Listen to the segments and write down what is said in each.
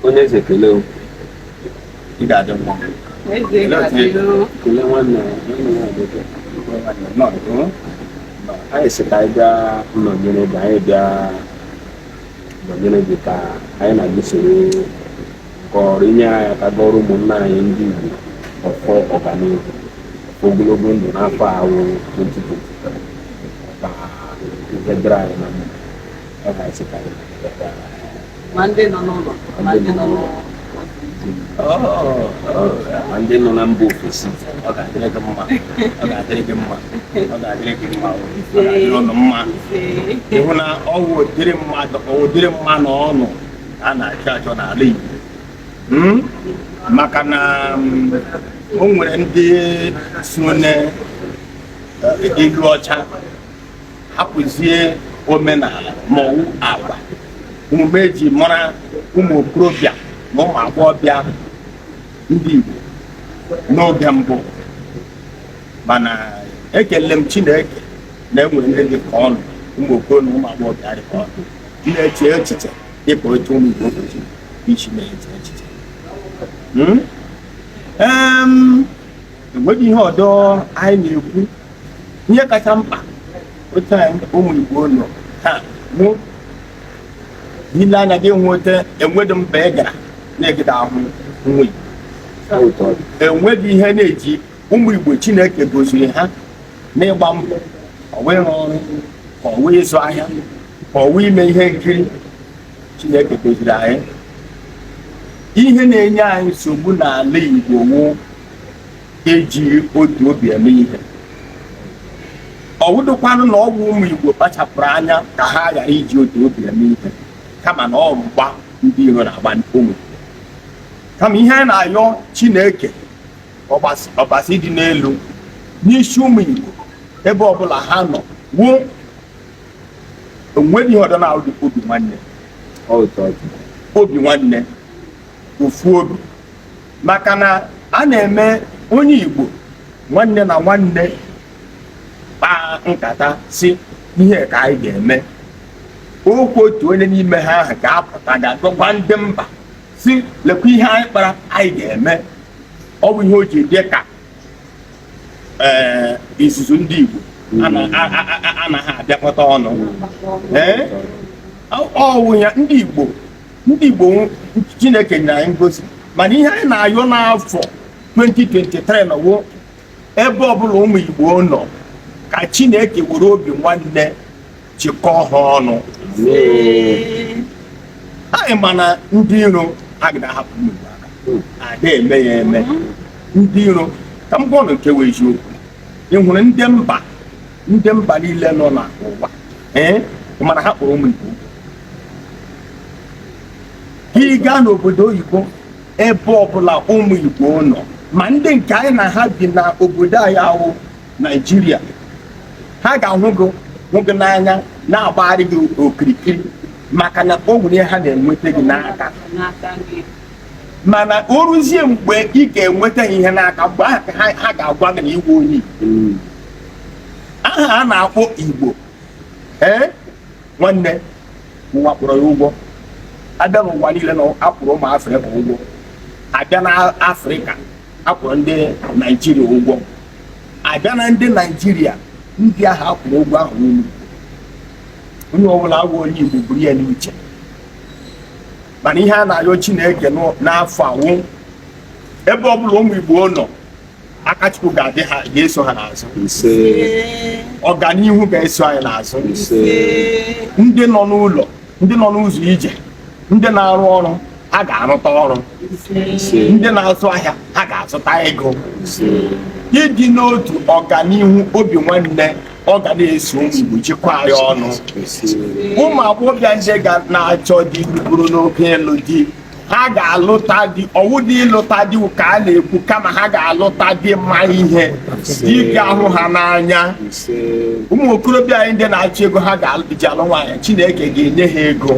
onye eze kelee o. ị ga-adị mma Eze Olee otu ị- ga-adịrị kelee nwanne nwanne ya nwoke Nọ, nọ. anyị sị ka anyị bịa nọnyere gị anyị bịa nọnyere gị ka anyị na gị soro kọrọ i nyere anyị aka gọrọ ụmụnna anyị ndị Igbo ọfọ ọganihu ogologo ndụ n'afọ a wụ 2020 ka ihe dịrị anyị na mma ma ndị nọ n'ụlọ ma ndị nọ n'ụlọ ma ndị nọ na mba ofesi ọ ga-adịrị gị mma ọ ga-adịrị gị mma ọ ga-adịrị gị mma ọ ga-adịrị ụnụ mma ị hụ na ọ wụ ụdịrị mmadụ ụdịrị mmadụ ụnụ a na-achọ achọ n'ala Igbo hmm? maka na mm, o nwere ndị so na eh, ndị ọcha hapụzie omenala ma ọ wụ agwa omume e ji mara ụmụ okorobịa na ụmụ agbọghọbịa ndị Igbo n'oge mbụ mana ekele m Chineke na e nwere ndị dị ka ụnụ ụmụ okoro na ụmụ agbọghọbịa dị ka ụnụ na-eche echiche dịka otu ụmụ Igbo kwesịrị isi na-eche echiche hmm? enweghị ihe ọdọ anyị na-ekwu ihe kacha mkpa otu anyị ụmụ Igbo nọ taa wụ i lee anya gị ahụta enweghị mba ị gara na ị gaghị ahụ nwa Igbo enweghị ihe na-eji ụmụ Igbo Chineke goziri ha n'ịgba mbọ ọ wụ ịrụ ọrụ ka ọ wụ ịzụ ahịa ka ọ wụ ime ihe nkiri Chineke goziri anyị ihe na-enye anyị nsogbu n'ala Igbo wụ eji otu obi eme ihe ọ wụdụkwanụ na ọ wụ ụmụ Igbo kpachapụrụ anya ka ha ghara iji otu obi eme ihe kama na ọ wụ mgba ndị iro na-agba ụmụ kama ihe a na-ayọ Chineke ọbasi dị n'elu n'isi ụmụ Igbo ebe ọbụla ha nọ wụ o nweghị ihe ọdọ na obi nwanne obi nwanne ofu obi maka na a na-eme onye Igbo nwanne na nwanne kpaa nkata sị ihe a ka anyị ga-eme okwu otu onye n'ime ha ahụ ga-apụta ga-agwakwa ndị mba sị lekwa ihe anyị kpara anyị ga-eme ọ bụ ihe o ji dị ka ee izuzu ndị Igbo anaghị abịakọta ọnụ ee ọ wụ ya ndị Igbo ndị Igbo Chineke nyere anyị ngozi mana ihe anyị na-ayọ n'afọ 2023 na ọ wụ ebe ọbụla ụmụ Igbo nọ ka Chineke were obi nwanne chịkọọ ha ọnụ anyị ma na ndị iro agada ahapụ ụmụ Igbo aka ada eme ya eme ndị iro ka m gwa ụnụ nke wụ eziokwu ị hụrụ ndị mba ndị mba niile nọ n'ụwa ee mana ha kpọrọ ụmụ Igbo ka ị gaa n'obodo oyibo ebe ọbụla ụmụ Igbo nọ ma ndị nke anyị na ha bi na obodo anyị a wụ naijiria ha ga-ahụ gị n'anya na-agbagharị gị okirikiri maka na o nwere ha na-enweta gị n'aka mana o ruzie mgbe ị ga-enweta ihe n'aka mgbe ahụ ka ha ga-agwa gị na ị wụ onye igbo aha a na-akpọ igbo ee nwanne ụwa kpọrọ ya ụgwọ a bịa n'ụwa niile na a kpọrọ ụmụ afrịka ụgwọ a bịa na afrịka a kpọrọ ndị naijiria ụgwọ a bịa na ndị naijiria ndị ahụ a kpọrọ ụgwọ a wụ unu onye ọbụla wụ onye igbo buru ya n'uche mana ihe a na-ayọ chineke n'afọ a wụ ebe ọbụla ụmụ igbo nọ aka chukwu ga-eso ha n'azụ ọganihu ga-eso anyị n'azụ ndị nọ n'ụlọ ndị nọ n'ụzọ ije ndị na-arụ ọrụ ha ga-arụta ọrụ ndị na-azụ ahịa ha ga-azụta ego ịdị n'otu ọganihu obi nwanne ọ ga na-eso ụmụ igbo jikọọ anyị ọnụ ụmụ agbọghọbịa ndị ga na-achọ di bụrụ n'oge ịlụ di ha ga-alụta di ọ wụdị ịlụta di ka a na-ekwu kama ha ga-alụta di ma ihe di ga-ahụ ha n'anya ụmụ okorobịa anyị ndị na-achọ ego ha ga-eji alụ nwaanyị Chineke ga-enye ha ego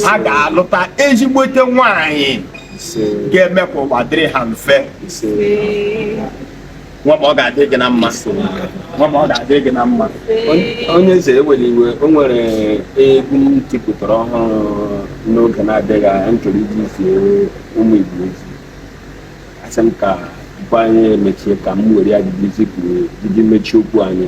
ha ga-alụta ezigbote nwaanyị ga-eme ka ụwa dịrị ha mfe nwa ma ọ ga-adị gị na mma nwa ma ọ ga-adị gị na mma onye eze ewela iwe o nwere egwu m tipụtara ọhụrụ n'oge na-adịghị anya m chọrọ iji zie ụmụ igbo ozi asị m ka tupu anyị emechie ka m were ya jiji mechie okwu anyị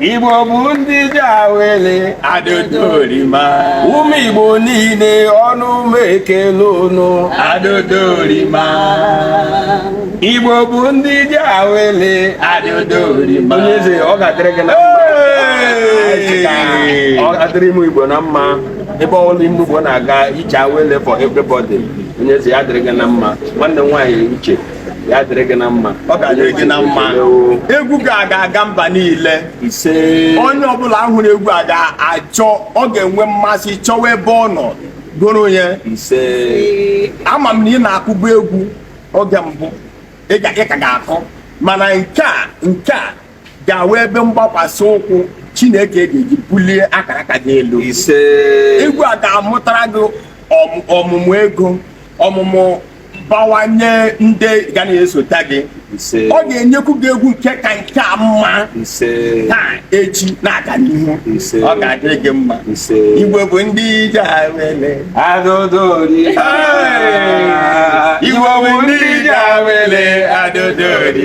Igbo bụ ndị ije awele adodorima ụmụ Igbo niile ọnụ m ekele ụnụ adodorima Igbo bụ ndị ije awele adodorima onye eze ọ ga-adịrị gị na mma ọ ga-adịrị ụmụ Igbo na mma ebe ọbụla ụmụ Igbo na-aga ije awele for everybody onye eze ya dịrị gị na mma nwanne m nwaanyị uche ya dịrị gị na mma ọ ga-adịrị gị na mma egwu gị a ga-aga mba niile ise onye ọbụla hụrụ egwu a ga-achọ ọ ga-enwe mmasị chọwa ebe ọ nọ goro ya ise ama m na ị na-akụbu egwu oge mbụ ị ka ga-akụ mana nke a nke a ga-awụ ebe mgbakwasị ụkwụ chineke ga-eji bulie akara aka gị elu egwu a ga-amụtara gị ọmụmụ ego ọmụmụ bawanye ndị ga na-esota gị ọ ga-enyekwu gị egwu nke ka nke a mma taa echi na-aga n'ihu ọ ga-adịrị gị mma igbo bụ ndị ije awele adodori igbo bụ ndị ije awele adodori